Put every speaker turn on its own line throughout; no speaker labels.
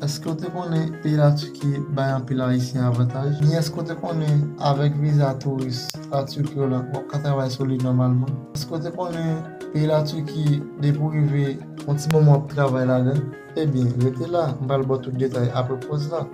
Eske w te konnen peyi Laturki bay anpil Ayisyen avantaj? Ni eske w te konnen avèk viza touris Laturki w lan wap ka travay sou li nòmalman? Eske w te konnen peyi Laturki depi w rive yon ti moman wap travay ladan? Ebyen rete la m pral baw tout detay apre poz lan.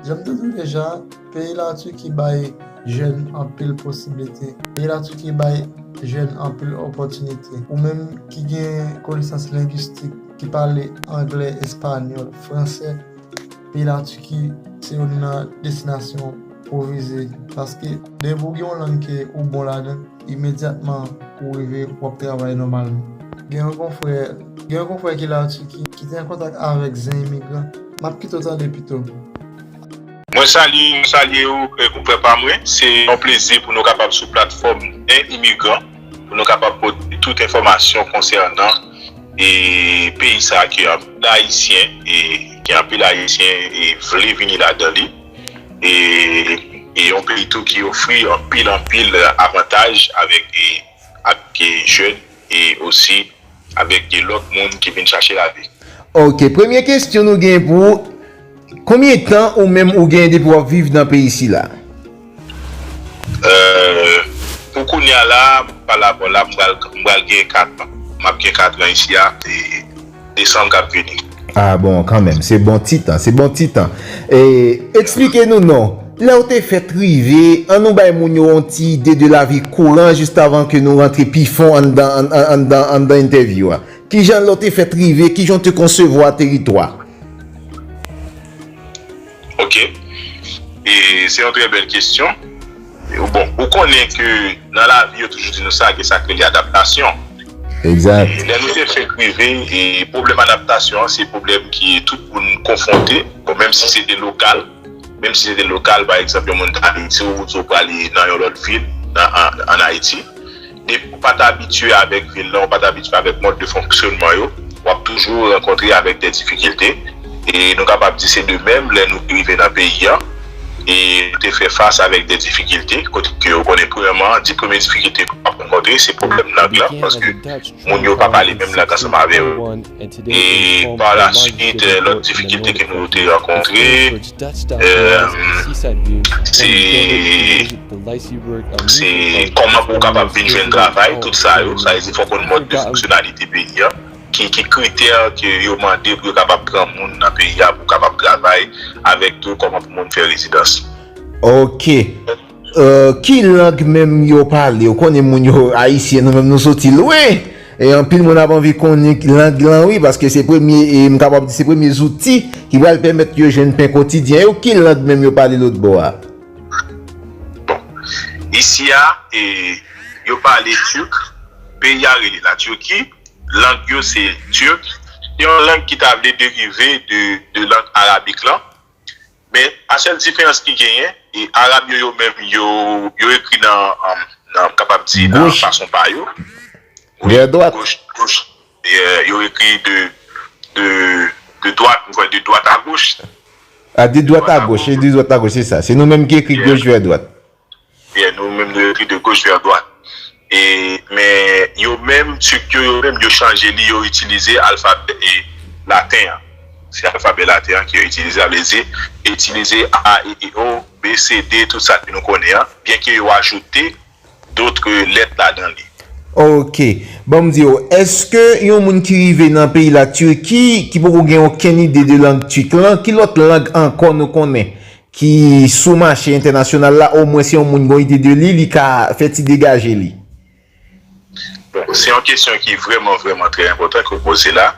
Janm te di deja, peyi la Turquie bay jèn anpil posiblite, peyi la Turquie bay jèn anpil opòtinite. Ou menm ki gen konesans lengwistik, ki pale anglè, espanyòl, fransè. Peyi la Turquie se youn nan destinasyon pou vize paske depi ou gen yon lang ke ou bon ladan imedyatman ou rive ou ap travay nòmalman. Gen yon konfrè gen yon konfrè ki la Turquie ki te an kontak avèk zen imigran map kite w tande pito.
Mwen salye mwen salye ou konfrè pa mwen se yon plezi pou nou kapab sou platfòm zen imigran pou nou kapab pote tout enfòmasyon konsènan. e peyi sa ke anpil ayisyen e ke anpil ayisyen e vle vini ladan li e e yon peyi tou ki ofri anpil anpil avantaj avèk e avèk e jèn e osi avèk e lòt moun ki vin chache lavi. Ok premye
kestyon nou gen pou ou. Konbyen tan ou menm ou gen depi wap viv nan peyi sila?
Pou kounya la mwen pa la bò la m pral gen 4 ans map gen 4 ans isi a e desanm kap vini. Ah bon kanmenm
se bon ti tan se bon ti tan Eksplike nou non lèw te fèt rive an nou bay moun yo yon ti ide de lavi kouran jistavan ke nou rantre pi fon anndan anndan anndan entèvyou a kijan lèw te fèt rive kijan w te konsevwa teritwa.
Ok, e se yon trè bèl kesyon. Bon, ou konnen ke nan lavi yo toujou di nou sa, gen sa k rele adaptasyon. Egzat.
Lè nou te fèk
rive, e pwoblèm adaptasyon an, se pwoblèm ki tout moun konfwonte, bon menm si se te lokal, menm si se te lokal, pa egzanp yon moun ta Ayiti, ou di w prale nan yon lòt vil, an Ayiti. Depi ou pa t abitye avèk vil la, ou pa t abitye avèk mòd de fonksyonman yo, w ap toujou rankontre avèk de difikilte. E nou kapab di se de menm lè nou te rive nan peyi an e nou te fè fas avèk de difikilte. Kote ke ou konnen premyèman, di premye difikilte ke w ap rankontre se pwoblèm lang lan paske moun yo pa pale menm lang ansanm avè ou. E pa la swit lòt difikilte ke nou te rankontre. Se kòman pou w kapab vin jwenn travay, tout sa yo. Sa vle di fò w konn mòd de fonksyonalite peyi a, ki kritè ke yo mande pou yo kapab pran moun nan peyi a pou kapab travay, avèk tou kòman pou moun fè rezidans. Ok.
Ki lang menm yo pale? Ou konnen moun yo ayisyen nou menm nou soti lwen e anpil moun ap anvi konnen lang lan wi paske se premye e m kapab di se premye zouti ki pral pèmèt yo jwenn pen kotidyen yo. Ki lang menm yo pale lotbò a?
Bon, isi a e yo pale tirk, peyi a rele la Tirki, lang yo se tirk, se yon lang ki ta vle derive de lang arabik lan. Men a sèl diferans ki genyen e Arab yo yo menm yo yo ekri nan nan m kapab di nan fason pa yo wi
goch goch
yo ekri de de de dwat m kwè de dwat a goch a de
dwat a goch e de dwat a goch se sa se nou menm ki ekri goch vè dwat. Yè nou
menm nou ekri de goch vè dwat e men yo menm turk yo yo menm yo chanje li yo itilize alfabè e laten an se alfabè laten an ke yo itilize sa vle di yo itilize a e i o b c d tout sa ke nou konnen an byen ke yo ajoute dotre lèt ladan li. Ok
banm diw eske yon moun ki rive nan peyi la turki ki poko gen okenn ide de lang turk lan ki lòt lang ankò nou konnen ki sou mache entènasyonal la omwen se yon moun gon ide de li, li ka fè ti degaje li.
Bon, se yon kesyon ki vrèman vrèman trè enpòtan ke w poze la.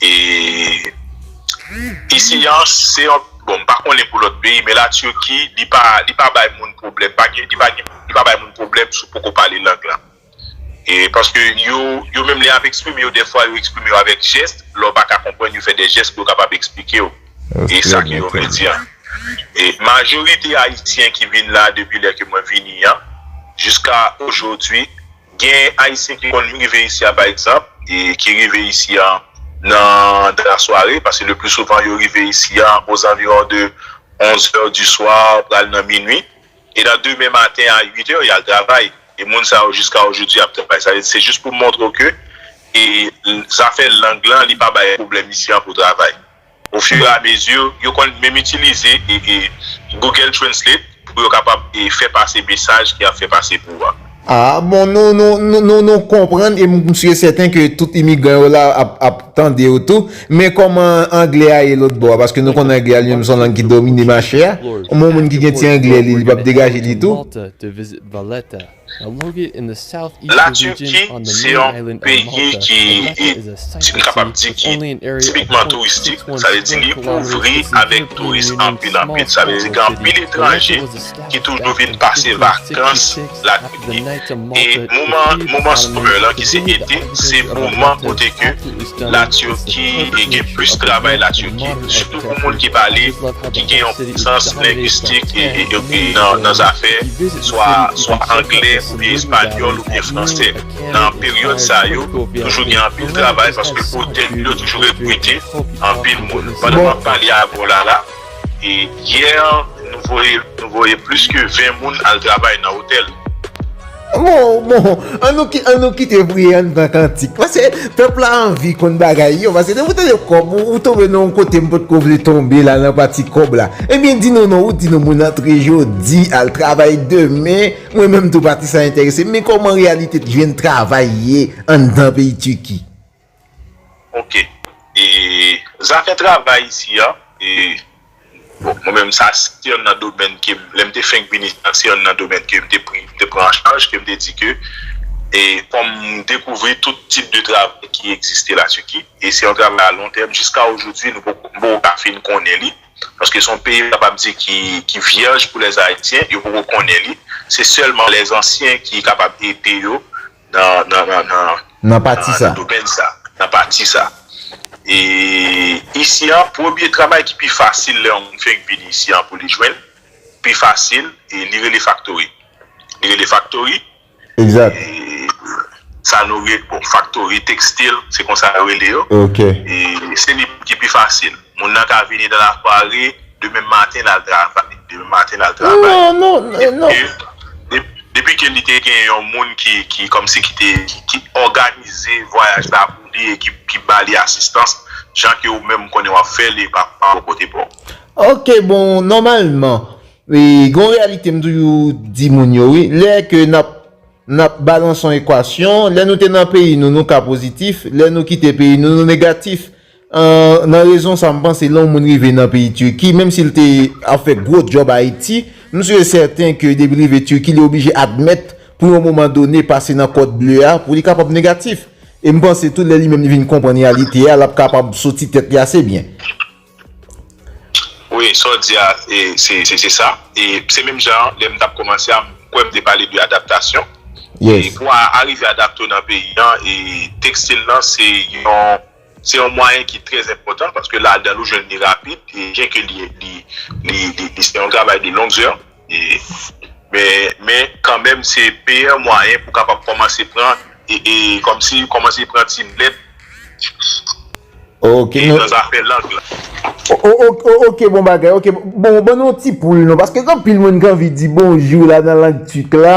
E isi an, se yon, bon m pa konnen pou lòt peyi men la Turquie li pa li pa bay moun pwoblèm, pa gen li pa gen li pa bay moun pwoblèm si w poko pale lang lan. E paske yo, yo menm lè y ap eksprime yo dèfwa yo eksprime yo avèk jès, lè w pa ka konprann yo fè dè jès pou yo kapab eksplike w e sa ke yo vle di an. E majorite ayisyen ki vin la depi lè ke mwen vini an jiska ojodwi gen ayisyen ki konn rive isi a pa egzanp e ki rive isi an nan dan la sware paske le pli souvan yo rive isi an ozanviwon de 11 è di swa pral nan minwi. E nan demen maten a 8 è, y al travay. E moun sa yo jiska ojodi a ap travay. Sa vle di se jis pou m montre w ke zafè lang lan li pa bay pwoblèm isi an pou travay. O fur et à mesure, yo konn menm itilize Google Translate pou yo kapab fè pase mesaj ki ap fè pase pou ou a. Aa bon nou
nou nou nou konprann e m sye sèten ke tout imigran yo la ap ap tande yo tou men kòman anglè a ye lòtbò a paske nou konnen anglè a li menm se yon lang ki domine mache a yon moun ki gen ti anglè li li p ap degaje li tou. La Turquie
se yon peyi ki n kapab di ki tipikman touristik sa vle di li ouvri avèk touris anpil anpil sa vle di gen anpil etranje ki toujou vin pase vakans lakay li e moman moman summer lan ki se ete se moman kote ke la Turki gen plis travay la Turki sitou pou moun ki pale ki gen yon konesans lengwistik nan zafè swa swa angle oubyen espanyòl oubyen fransè nan peryòd sa yo toujou gen anpil travay paske otèl yo toujou rekrite anpil moun pandan map pale avèw la la. Yè nou voye plis ke 20 moun al travay nan otèl. Bon,
bon, an nou kite priye an pran kantik. Pase pèp la anvi konn bagay yo. Pase depi ou tande kòb, ou tonbe nan yon kote m potko vle tonbe la nan pati kòb la. Ebyen di nou non, ou di nou moun antre jodi, al travay demen. Mwen menm tou pati sa enterese m. Men kòman reyalite jwenn travay ye anndan peyi Tiki?
Ok e zafè travay isi a e bon mwen menm sa se yonn nan domèn ke m lè m te fenk vini sa se yonn nan domèn ke m te pri m te pran an chaj ke m te di ke e kòm m dekouvri tout tip de travay ki egziste la Tiki e se yon travay a lon tèm jiska ojoudwi nou poko m poko ka fin konnen li paske son peyi m kapab di ki ki vyèj pou lèzayisyen yo poko konnen li se sèlman lèzansyen ki kapab ede yo. nan pati sa. Nan pati sa. E isi an, premye travay ki pi fasil lè yon moun fenk vini isi an pou li jwenn, pi fasil, e li rele faktori. Li rele faktori. Egzat. Sa nou rele, bon, faktori, tekstil, se konsa yo rele yo. Ok. E
se li
ki pi fasil. Moun nan ka vini nan lafwa ri demen maten lal travay. Demen maten lal travay. Non, non, non. Depi ke li te gen yon moun ki, ki kòmsi ki te, ki òganize vwayaj la pou li e ki ba li asistans, jan ke ou menm ou konnen wap fè li pa bò kote pa ou. Ok, bon,
nòmalman, gen yon reyalite m toujou di moun yo wi, lè ke nap, nap balanse yon ekwasyon, lè nou te nan peyi nou, nou ka pozitif, lè nou kite peyi nou, nou negatif. Nan rezon sa m panse lè yon moun rive nan peyi Turquie menm si l te ap fè gwo djòb Ayiti m si e sèten ke depi l rive Turquie li oblije admèt pou yon moman done pase nan kòd ble a pou li kapab negatif e m panse tou lè li menm li vin konprann reyalite a l ap kapab soti tèt li ase byen.
Wi sa w di a se sa e se menm jan an lè m t ap kòmanse a m kwè m te pale de adaptasyon e pou w
arive
adapte w nan peyi an e tekstil lan se yon. Se yon mwayen ki trè enpòtan paske ladan l ou jwenn li rapid e byen ke li se yon travay de longue zè men kanmenm se meyè mwayen pou kapab kòmanse pran e kòmsi kòmanse pran ti nèt
nan zafè lang
la.
Ok bon bagay, ok bon ban nou yon ti poul non paske gen anpil moun ki anvi di bonjou la nan lang Tik la.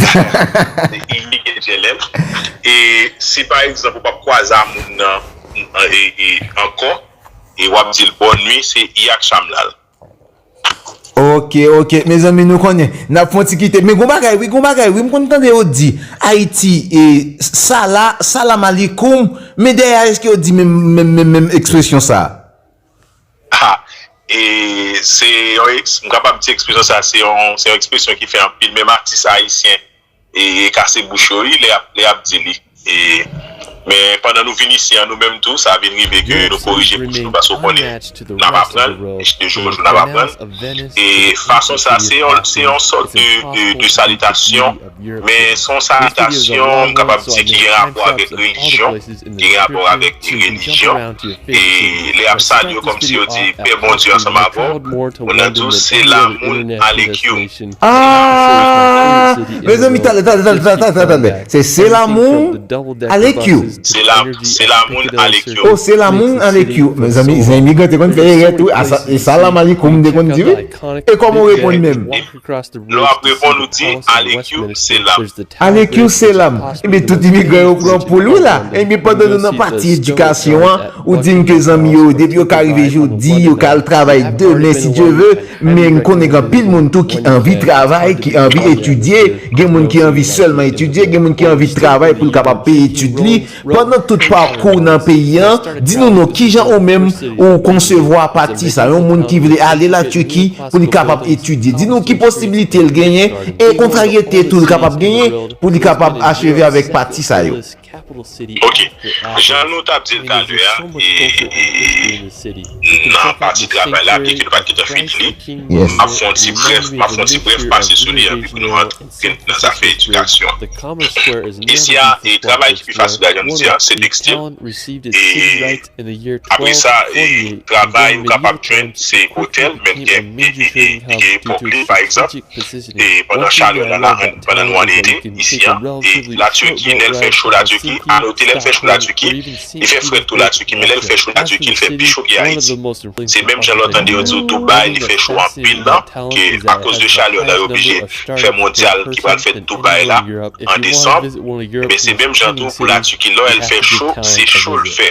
Se inik e jenèm. E si pa egzanp ou pap kwaze a moun nan ankò e wap di l bòn nwi se i ak cham la l. Ok
ok mezanmi nou konnen nap fon ti kite men gon bagay wi gon bagay wi m konn tande yo di ayiti e sala salam alikoum men dèyè a eske yo di menm menm ekspresyon sa. Ha!
E se yon eks, m kapab di ekspresyon sa se yon, se yon ekspresyon ki fè anpil menm atis ayisyen e kase bouch yo wi lè y ap, lè y ap di li. E, men pandan nou vin isi an nou menm tou sa vin rive ke nou korije bouch nou paske w konnen n ap aprann de jou an jou n ap aprann. E fason sa se yon, se yon sòt de, de, de salitasyon. Men, s on salitasyon, m kapab di, ki gen rapò avèk relijyon, ki gen rapò avèk relijyon. E lè y ap salye w kòmsi yo di, Pè Bondye ansanm avè w, ou nan dous, se la moun ale kyou. Aah!
Mezanmi, tande, tande, tande, tande, tande, tande. Se se la moun ale kyou. Se la, se
la moun ale kyou. O, se la moun ale
kyou. Mezanmi, zen imigran te konn fè erè tou. A sa, e sa Lama Likoum te konn di wi. E kòman w reponn menm? Lè w ap
reponn ou di, Alekyou selam. Alekyou
selam. Enben tout imigran yo pran pou l wi la. Enben pandan nou nan pati edikasyon an, ou di m ke zanmi yo depi yo ka rive jodi, yo ka al travay demen si Dye ve. Men m konnen gen anpil moun tou ki anvi travay, ki anvi etidye. Gen moun ki anvi sèlman etidye, gen moun ki anvi travay pou l kapab peye etid li. Pandan tout pakou w nan peyi an, di nou non kijan ou menm ou konsevwa pati sa, yon moun ki vle ale la Turquie pou li kapab etidye, di nou ki posibilite l genyen e kontraryete tou l kapab genyen pou li kapab acheve avèk pati sa yo. Ok,
jan nou tap dil talè a nan pati travay la byenke nou pat gentan fini li, map fè yon ti brèf, map fè yon ti brèf pase sou li anpi pou nou antre. ke nan zafè edikasyon. Isi a, travay ki pi fasil la jan nou di a, se tekstil. E apre sa, travay ou kapab jwenn se otèl, menm gen epòk li, pa egzanp, pandan chalè la la, pandan nou an ete isi a. E la Turquie, lè l fè cho la Turquie, a note lè l fè cho la Turquie, li fè frèt tou la Turquie, men lè l fè cho la Turquie, li fè pi cho ke Ayiti. Se menm jan lè w tande yo di w Dubai li fè cho anpil lan, ke akoz de chalè la yo oblije fè mondyal ki pral fèt Dubai la an desanm, enben se menm jan tou pou la Turquie lè l fè cho se cho l fè.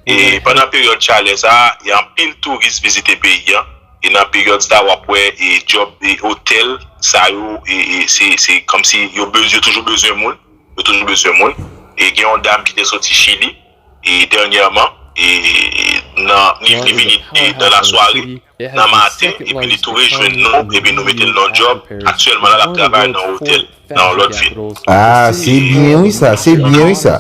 E pandan peryòd chalè sa a gen anpil touris vizite peyi an e nan peryòd sa a w ap wè e djòb e otèl sa yo se kòmsi yo toujou bezwen moun, yo toujou bezwen moun e gen yon dam ki te soti Chili. dènyèman, nan ni vni vini nan lasware, nan maten, epi li tou rejwenn nou, epi nou mete l nan yon djòb, aktyèlman la l ap travay nan yon otèl nan yon lòt vil. Ah se
byen wi sa, se byen wi sa.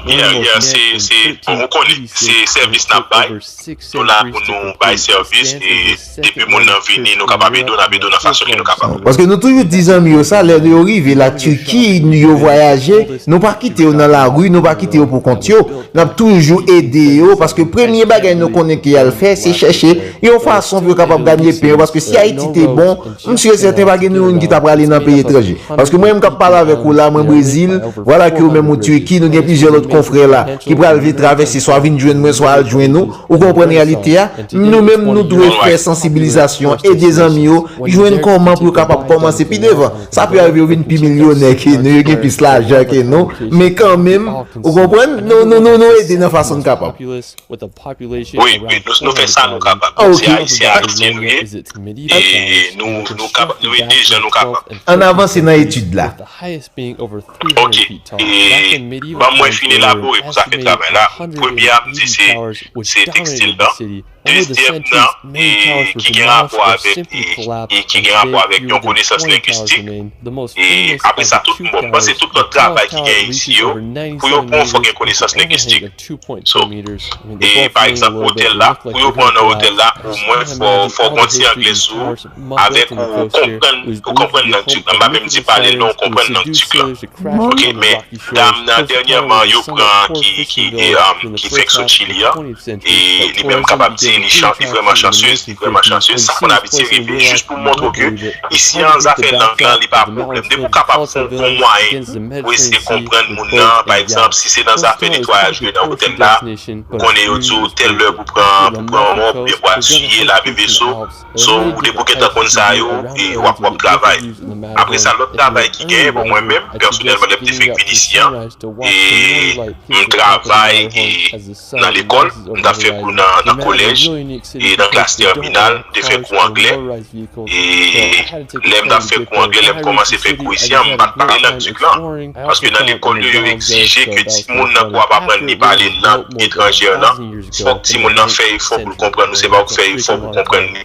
Yeah yeah
se se bon ou konnen se sèvis n ap bay, nou la pou nou bay sèvis e Depi moun nan vini nou kapab ede w nap ede w nan fason ke nou kapab. Paske nou toujou di zanmi
yo sa lè yo rive la Turki yo vwayaje nou pa kite yo nan lari nou pa kite yo pou kont yo nap toujou ede yo paske premye bagay nou konnen ke yal fè se chèche yon fason pou yo kapab ganye pen yo paske si Ayiti te bon m sur et certain pa gen nou youn ki ta prale nan peyi etranje paske mwen menm kap pale avèk ou la mwen Brezil vwala ke ou menm ou Turki nou gen plizyè lòt konfrè la ki pral vle travèse swa vin jwenn mwen swa al jwenn ou Ou konprann reyalite a? Nou menm nou dwe fè sansibilizasyon, ede zanmi yo jwenn kòman pou yo kapab kòmanse pi devan. Sa pi arive yo vin pi milyonè ke nou, yo gen plis lajan ke nou, men kan menm, ou konprann, nou ede nan fason n kapab. Wi,
wi, nou fè sa nou kapab. Nou se Ayisyen, Ayisyen nou ye, e nou ede jan nou kapab. Ann avanse nan
etid la.
Ok, e banm wè fin elabore pou zafè travay la, premye a m di se se tekstil nan, dezyèm nan e ki gen rapò avèk e ki gen rapò avèk yon konesans lengwistik e apre sa tout m bon m panse tout lòt travay ki gen isi yo pou yo pran w fòk gen konesans lengwistik so e pa egzanp otèl la pou yo pran w nan otèl la omwen fò w fò w gen w ti anglè sou ou. avèk ou ou konprann ou konprann nan dur nan pa menm di pale non ou konprann nan dur lan ok men dam nan dènyèman yo pran ki ki e ki fèk sot chili an e li menm kapab di li chan li vrèman chansez li vrèman chansez sa konn abitye rive jis pou montre w ke isi an zafè lang lan li pa pwoblèm depi w kapab fon bon mwayen pou eseye konprann moun nan pa egzanp si se nan zafè netwayaj ke nan otèl la ou konnen yo di w tèl lè pou pran pou pran wòp oubyen pou asiye lave veso So ou te pou gentan konn sa yo e wap wap travay. Apre sa lòt travay ki genyen bon mwen menm pèsonèlman lèm te fenk fin isi an e m travay e nan lekòl m tap fè kou nan kolèj e nan klas tèminal m te fè kou anglè e lèm tap fè kou anglè lèm kòmanse fè kou isi an m pat pale lang tuk lan paske nan lekòl yo yo egzije ke timoun nan pou ap aprann li pale lang etranjè lan. Fòk timoun nan fè efò pou l konprann ou, se pa ou ki fè efò pou
konprann li.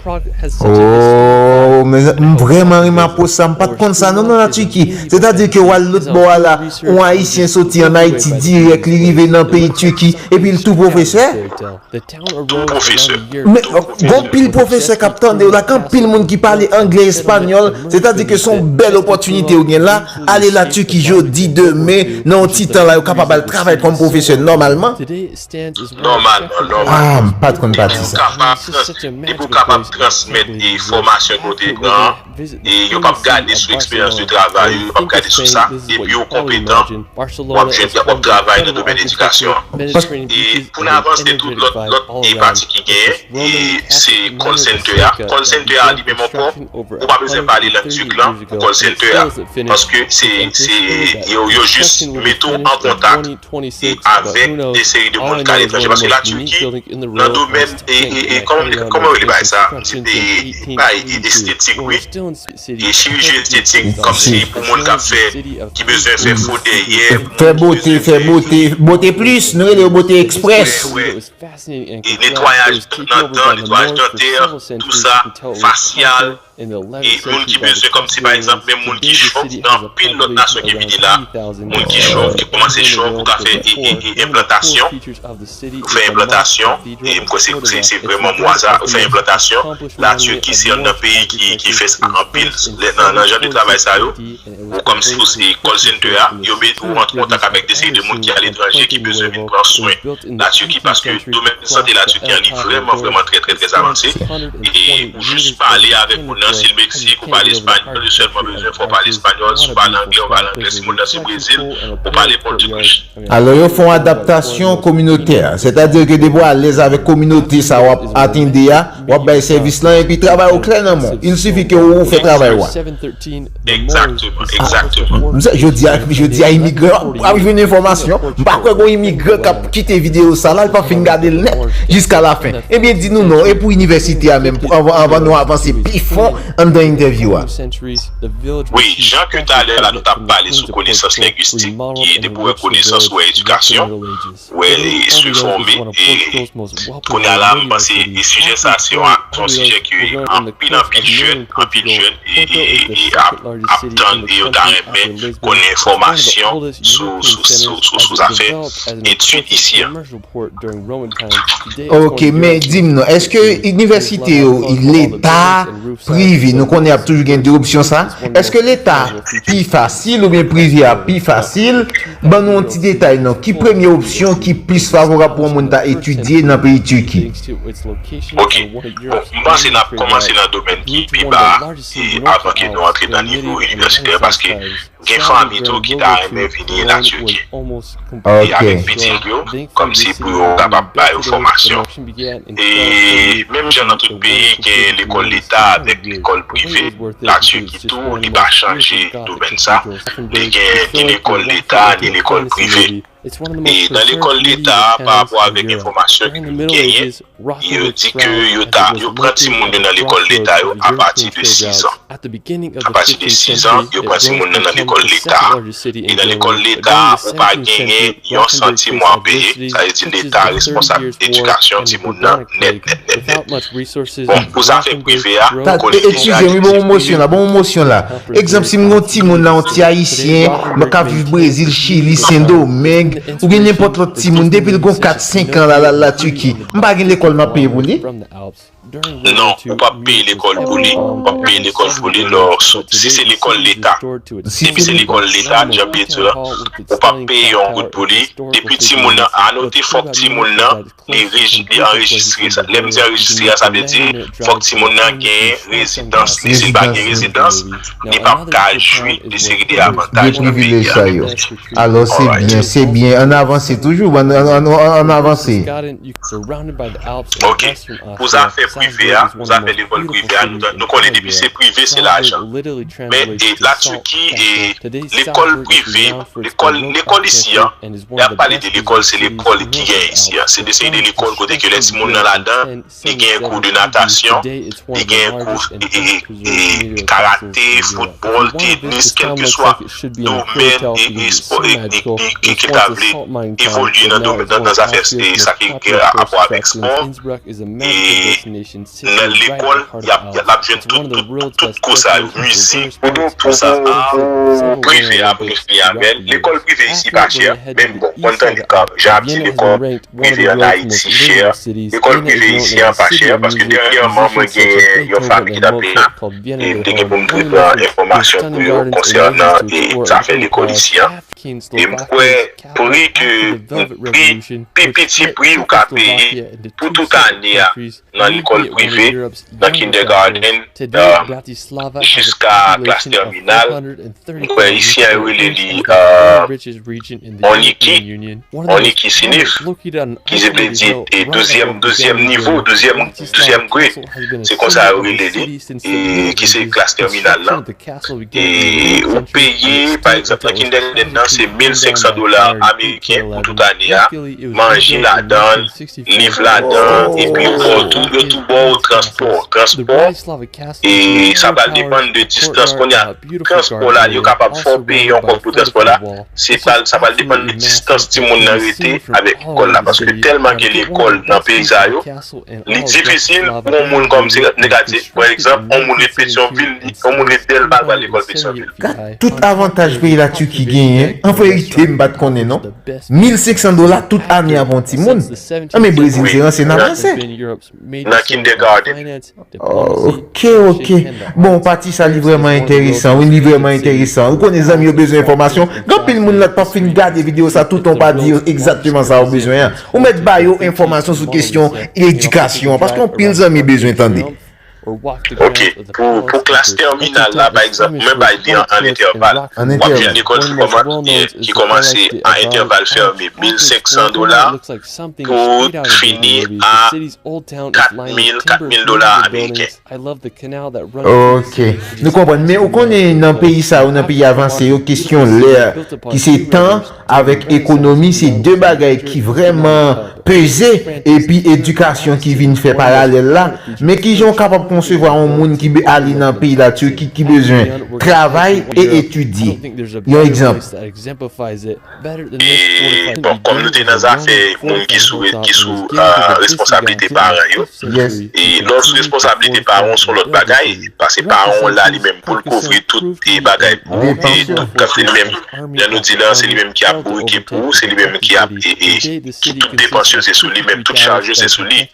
Ooh mezanmi m vrèman renmen apwoch sa m pat konn sa non nan la Turquie sètadi ke wal lòt bò a la yon ayisyen soti an Ayiti dirèk li rive nan peyi Turquie epi l tou pwofesè? Tou
pwofesè. Men gon
pil pwofesè kap tande w la ak anpil moun ki pale anglè espanyòl sètadi ke son bèl opòtinite yo gen la ale la Turquie jodi demen nan yon ti tan la yo kapab al travay kòm pwofesè nòmalman. Nòmal,
an nòmal.
Depi ou kapab, depi ou
kapab transmèt e fòmasyon ke ou te pran an, e yo p ap gade sou eksperyans de travay ou, yo p ap gade sou sa, depi ou konpetan, w ap jwenn w ap travay nan domèn edikasyon an. E pou n avanse tou, lòt, lòt e pati ki genyen, e se call center a. Call center a li menm ankò, ou pa bezwen pale lang turk lan pou call center a, paske se, se, yo, yo jis mete w an kontak. e avèk de seri de moun ki ale etranje paske la Turquie nan domèn e e kòman m kòman yo rele bagay sa m di e e pa e estetik wi e chiriji estetik kòm si pou moun kap fè ki bezwen fè fo dèyè
moun ki bezwen fè wè e
netwayaj nan dan netwayaj dantè tou sa fasyal. E moun ki bezwen kòm si pa egzanp menm moun ki chòv gen anpil lòt nasyon ki vini la moun ki chòv ki kòmanse chòv ou ka fè enplantasyon ou fè enplantasyon e m kwè se vrèman mo a sa ou fè enplantasyon la Turquie se youn nan peyi ki fè sa anpil nan jan de travay sa yo. Ou kòm si ou se call center a, yo met ou ant kontak avèk de seri de moun ki aletranje ki bezwen vin pran swen la Turquie paske domèn sante la Turquie an li vrèman vrèman trè trè trè avanse e ou jis pale avèk moun nan sil Mexique ou pale espagnol yo sèlman bezwen fè w pale espagnol si w pale anglè ou pale anglè si moun nan se Brésil ou pale portugues. Alò yo fè yon
adaptasyon kominotè, sètadi ke depi w alèz avèk kominote sa wap atende a, W ap bay sèvis lan epi travay ou klè nan men w. Il sifi ke ou fè travay ou a. Exactement,
exactement. M se jodi a, jodi
a imigran yo ap jwenn enfòmasyon. M pa kwè gon imigran k ap kite videyo sa la, li p ap fin gade l nèt jiska lafen. Ebyen di nou non, e pou inivèsite a menm, anvan nou avanse pi fon anndan entèvyou a?
Wi, jan ke talè la nou t ap pale sou konesans lengwistik ki ede pou wè konesans ou wè edikasyon. wè li sou fòme e kounya la m panse e sijè sa se yon se yon sijè ke anpil anpil jèn anpil jèn e ap ap tann e yo ta renmen konnen enfòmasyon sou sou sou zafè etid isi an.
Ok men di m non eske inivèsite yo leta Privi, nou konnen ap toujou gen 2 opsyon sa, eske leta pi fasil oubyen privi a pi fasil, ban nou yon ti detay non, ki premye opsyon ki plis favorab pou yon moun ta etidye nan peyi Turquie? Ok,
bon, m panse n ap kòmanse nan domèn ki pi ba a, e avan ke nou antre nan nivo inivèsitè, paske Gen fanmi tou ki ta renmen vini na Turki e avèk pitit yo kòmsi pou yo kapab ba yo fòmasyon. E menm jan nan tout peyi gen lekòl leta avèk lekòl prive, na Turki tou li pa chanje domèn sa, li gen ni lekòl leta ni lekòl prive. E nan lekòl leta a, pa rapò avèk enfòmasyon ke nou genyen, yo di ke yo ta, yo pran timoun yo nan lekòl leta yo a pati de 6 an. A pati de 6 an, yo pran timoun nan nan lekòl leta a. E nan lekòl leta a, ou pa genyen yon santim ou ap peye, sa vle di leta responsab edikasyon timoun nan nèt nèt nèt nèt. Bon, pou zafè prive a, nou konnen deja
gen plis. Egzanp, si m gen yon timoun la, yon ti Ayisyen, bon k ap viv Brezil, Chili, Sendomeng, oubyen nenpòt lòt timoun, depi l gen yon kat, senk an, l al al Latiki, m pa gen lekòl m ap peye pou li? Non,
ou p ap peye lekòl pou li. W ap peye lekòl pou li lò, si se lekòl leta. Depi se lekòl leta, jan Pierre di la, ou p ap peye yon goud pou li. Depi timoun nan anote, fòk timoun nan li anrejistre sa. Lè m di anrejistre a, sa vle di fòk timoun nan gen rezidans li. Si l pa gen rezidans, li p ap ka jwi de seri de avantaj nan peyi a. Alright.
Se byen. An n avanse toujou. An n avanse. Ok. Pou zafè
prive a, pou zafè lekòl prive a, nou konnen depi se prive, se lajan. Men, la Turquie, lekòl prive, lekòl isi an, Lè ap pale de lekòl se lekòl ki gen isi a. Se de seri de lekòl kote ke lè timoun nan ladan, li gen kou de natasyon, li gen kou de karate, foutbòl, tenis, kèlkeswa domèn e espò e ke ta vle evolye nan zafè sa ki gen rapò avèk espò. nan lekòl yap lap jwenn tout tout tout kou sa yo mizik kou sa art prive ap refni avèl lekòl prive isi pa chè menm bon konn tande kòm jan ap di lekòl prive an ayiti chè lekòl prive isi an pa chè paske dènyèman mwen genyen yon fanmi ki tap vin la e m te gen pou m te pran enfòmasyon pou yo konsènan e zafè lekòl isi an e m kwè pri ke pri pi piti pri ou ka peye pou tout ane a nan lekòl prive, nan kindègaden jiska klas tèminal, m kwè isi a yo rele li Oniki, Oniki Sinif, ki se vle di douzyèm nivo, douzyèm grade, se konsa yo rele li, ki se klas tèminal lan. E ou peye, pa egzanp, nan kindègaden nan se 1500 dola ameriken pou tout ane a, manje ladan l, liv ladan epi bò tou yo tou bò ou transpò transpò e sa pral depann de distans konnya transpò la yo kapab fè w peye yon kòb pou transpò la se pral sa pral depann de distans timoun nan rete avèk lekòl la paske tèlman gen lekòl nan peyi sa yo li difisil pou yon moun kòm se nèg la di pran egzanp yon moun ret petyonvil li yon moun ret dèlma l pral lekòl petyonvil. Gad tout avantaj
peyi la Turquie genyen an verite m pat konnen non. 1500 dola tout ane avon timoun? Nan men brezil se ranse nap ranse. Nan
kindergarten. Ok
ok bon pati sa li vreman enteresan wi li vreman enteresan ou konnen zanmi yo bezwen enfomasyon gen anpil moun la k pap fin gade video sa toutan ou pa di yo egzakteman sa yo bezwen an ou met ba yo enfomasyon sou kesyon edikasyon paske anpil zanmi bezwen tande. Ok,
pou klas tèminal la, pa egzanp, mwen bay li an entèval. W ap jwenn lekòl ki kòmanse a entèval fèmen 1500 dola pou fini a 4000, 4000 dola ameriken.
Ok, nou konprann. Men ou konnen nan peyi sa yo, nan peyi avanse yo, kesyon lè ki se tan. avèk ekonomi se 2 bagay ki vrèman peze epi edikasyon ki vin fè paralèl la, men kijan ou kapab konsevwa yon moun ki ale nan peyi la Turquie ki bezwen travay e etidye yon egzanp. E
bon kòm nou te nan zafè moun ki sou ki sou responsablite paran yo e lè w sou responsablite paran w son lòt bagay pase paran w la li menm pou l kouvri tout bagay pou ou e tout kantite li menm Jan nou di la, se li menm ki ap bourike pou ou, se li menm ki ap e, e, ki tout depans yo se sou li menm, tout chaj yo se sou li.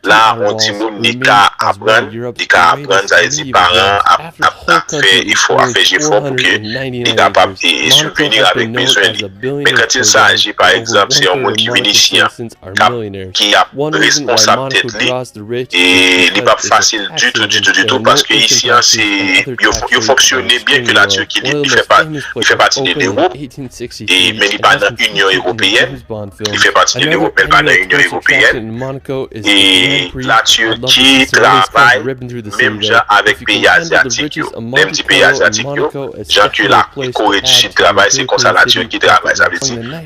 La a, on timoun li ka aprann, li ka aprann, sa vle di paran an ap, ap, ap fè efò, ap fè jefò pou ke li kapab e, e subvenir avèk bezwen li. Men kantil sa aje, pa egzanp, se yon moun ki vin isi an. k ap, ki ap responsab tèt li e li p ap fasil ditou, ditou, ditou paske Isiyan se yo fonksyone byen ke la Turki li fè pa, li fè pati de Lewoup e men li pa nan Inyon Ewopeyèn, li fè pati de Lewoup men li pa nan Inyon Ewopeyèn e la Turki travay menm jan avèk peyi Azyatik yo, lè m di peyi Azyatik yo, jan ke la Kore di Sid travay se konsa la Turki travay sa vle di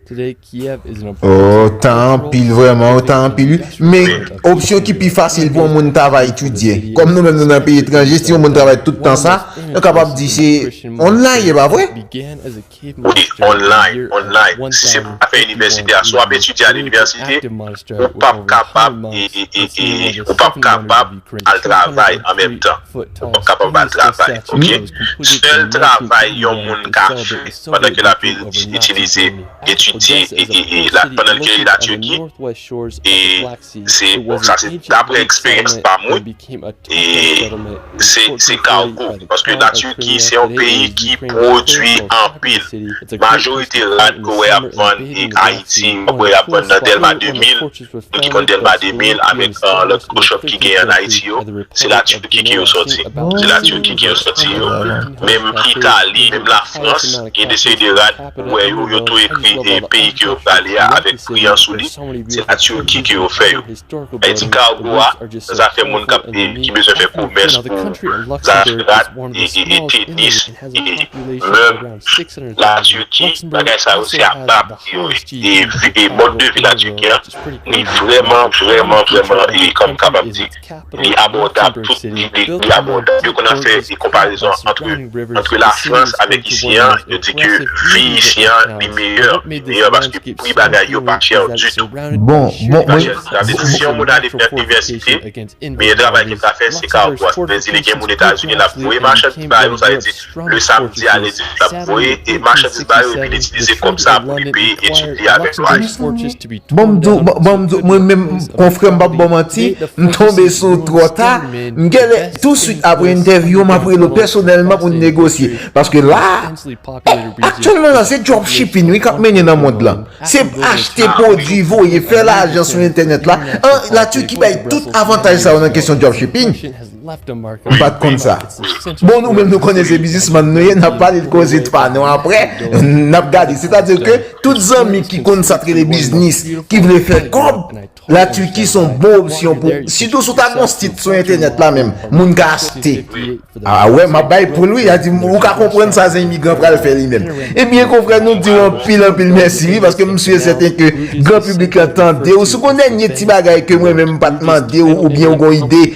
Ohh
tan anpil vreman ou tan anpil wi men opsyon ki pi fasil pou yon moun ta va etidye kom nou menm nou nan peyi etranje si yon moun travay tout tan sa nou kapab di se online e pa vre? Wi online
online si se pou ta fè inivèsite a si wap etidye a linivèsite ou pap kapab ou pap kapab al travay an menm tan ou pap kapab al travay ok sèl travay yon moun ka fè pandan ke lap itilize etidye pandan ke li la Turquie e se bon sa se daprè eksperyans pa mwen e se se kargo paske la Turquie se yon peyi ki pwodwi anpil majorite rad ke ou wè yap vann e Haïti wap wè yap vann nan Delma 2000. Nou te konn Delma 2000 avèk lòt Khrushchev ki genyen ann Ayiti yo, se la Turquie ki yo sòti. Se la Turquie ki yo sòti yo. Menm Italie, menm la France, gen de seri de rad ou wè yo, yo tou ekri peyi ke yo prale a avèk pri an sou li, se la Turquie ke yo fè yo. E ti cargo a, nan zafè moun kap ki bezwen fè komès pou zafè rad e tenis e mèb, la Turquie, bagay sa yo se a bab. E mòd de vi la Turquie an li vrèman vrèman vrèman e kòm m kapab di li abòdab tout li li abòdab yo konn ap fè e konparezon antre antre la Frans avèk isi an yo di ke vi isi an li meyè li meyè paske pri bagay yo pa chè ditou bon bon pa
chè sa vle di
si yon moun ale fè inivèsite meyè travay ke l ka fè se ka ou a si vle di li gen moun Etazini l ap voye machann ba yo sa vle di Le samdi a lendi l ap voye e machandiz ba yo epi l itilize kòb sa a pou li peye etid li a avèk lwa li. Bon m di w, bon m di w,
mwen menm konfrè m p ap ba w manti, m tonbe sou w twò ta, m genlè tousuit apre entèvyou an m ap rele w pèsonèlman pou n negosye. Paske la a, aktyèlman la se dropshipping wi k ap mennen nan mond lan. Se achte pwodui, voye, fè lajan sou entènèt la. La Turquie bay tout avantaj sa yo nan kesyon dropshipping. M pat konn sa. Bon nou menm nou konnen se bizismann nou ye nap pale de koze pa nou aprè nap gade. Sètadi ke tout zanmi ki konn sa k rele biznis, ki vle fè kòb, la Turquie son bon opsyon pou ou. Sitou si w ta gen yon sit sou entènèt la menm, moun ka achte. A wè map bay poul wi, a di ou ka konprann sa ze imigran pral fè li menm. Ebyen konfrè nou di w anpil anpil mèsi wi paske m su e sèten ke gran piblik lan tande w. Si w gen yon dènye ti bagay ke mwen menm m pat mande w oubyen ou gen yon ide,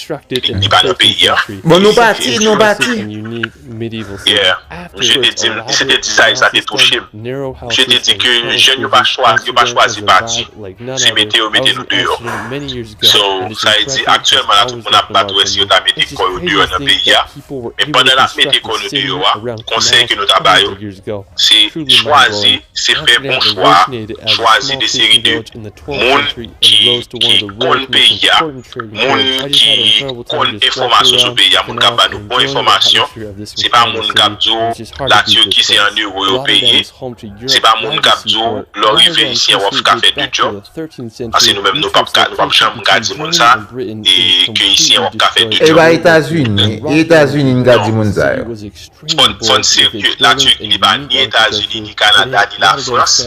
Li pa nan peyi a. Bon nou pati,
nou pati.
Yeah. Misye te di m, se te dizay sa te touche m. Misye te di ke jèn yo pa chwa, yo pa chwazi pati. Se mete yo mete nou deyò. So, sa vle di aktyèlman la tout moun ap bat wè si yo ta mete kò yo deyò nan peyi a. Men pandan n ap mete kò nou deyò a, konsèy ke nou ta ba yo, se chwazi, se fè bon chwa a, chwazi de seri de. moun ki konn peyi a, moun ki konn enfòmasyon sou peyi a, moun k ap ba nou bon enfòmasyon. Se pa moun k ap di w la Tirki se an euro yo peye, se pa moun k ap di w lè w rive isye w ap ka fè de djòb, paske nou menm nou pa p janm ka di moun sa ke isye w ap ka fè de djòb. E ba Etazini,
Etazini n ka di moun sa yo. Fòn
se ke la Turquie li pa ni Etazini, ni Kanada, ni la Frans,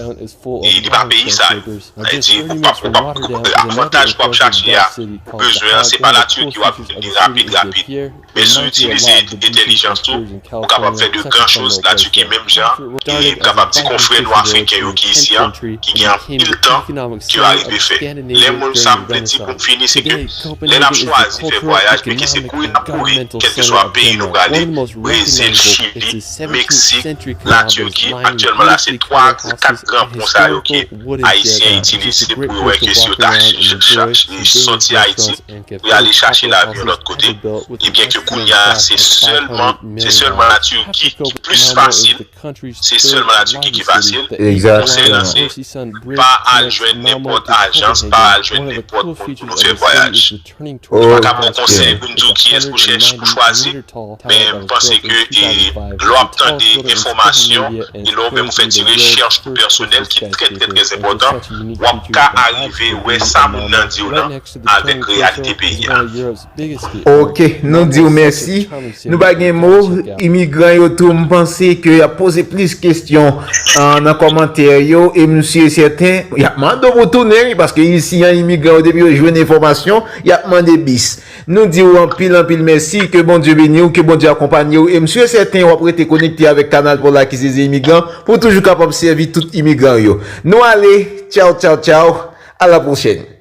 e li pa peyi sa yo. Sa vle di ou pap, ou pap, avantaj ke wap chache a, ou bezwen an, se pa la Turquie wap jwenn li rapid rapid. Men si ou itilize entèlijans ou, ou kapab fè de gran choz la Turquie menm jan e m kapab di konfrè nou Afriken yo ki isi an, ki gen anpil tan, ke yo arive fè. Lè moun, sa m vle di pou m fini se ke. Lè n ap chwazi fè vwayaj, men ki se kouri n ap kouri, kèlkeswa peyi nou prale, Brezil, Chili, Meksik, Latirki, aktyèlman la se 3 ak 4 gran pon sa yo ke Ayisyen itilize pou yo wè ke si yo ta soti Ayiti pou y ale chache lavi yon lòt kote, ebyen ke kounya se sèlman, se sèlman Latirki ki plis fasil. Se sèlman la Turquie ki fasil. Konsèy lan se,
pa
al jwenn nenpòt ajans, pa al jwenn nenpòt moun pou nou fè vwayaj. Nou pa ka ba w konsèy pou n di w kiyès pou chèche, pou chwazi, men m panse ke lè w ap tande enfòmasyon e lè w menm ou fè ti rechèch tou pèsonèl ki trè trè trè enpòtan, w ap ka arive wè sa moun nan di w lan avèk reyalite peyi a.
Ok nou diw mèsi nou pa gen mo imigran yo tou m panse ke yap poze plis kesyon nan kòmantè yo e m si e sèten yap mande w pou tounen wi paske isi an imigran yo depi yo jwenn enfòmasyon yap mande bis nou diw anpil anpil mèsi ke Bondye beni w ke Bondye akonpanye w e m si e sèten wap rete konekte avèk kanal pou la ki se Zeimigran pou w toujou kapab sèvi tout imigran yo nou ale tchaw tchaw tchaw a la pwochèn.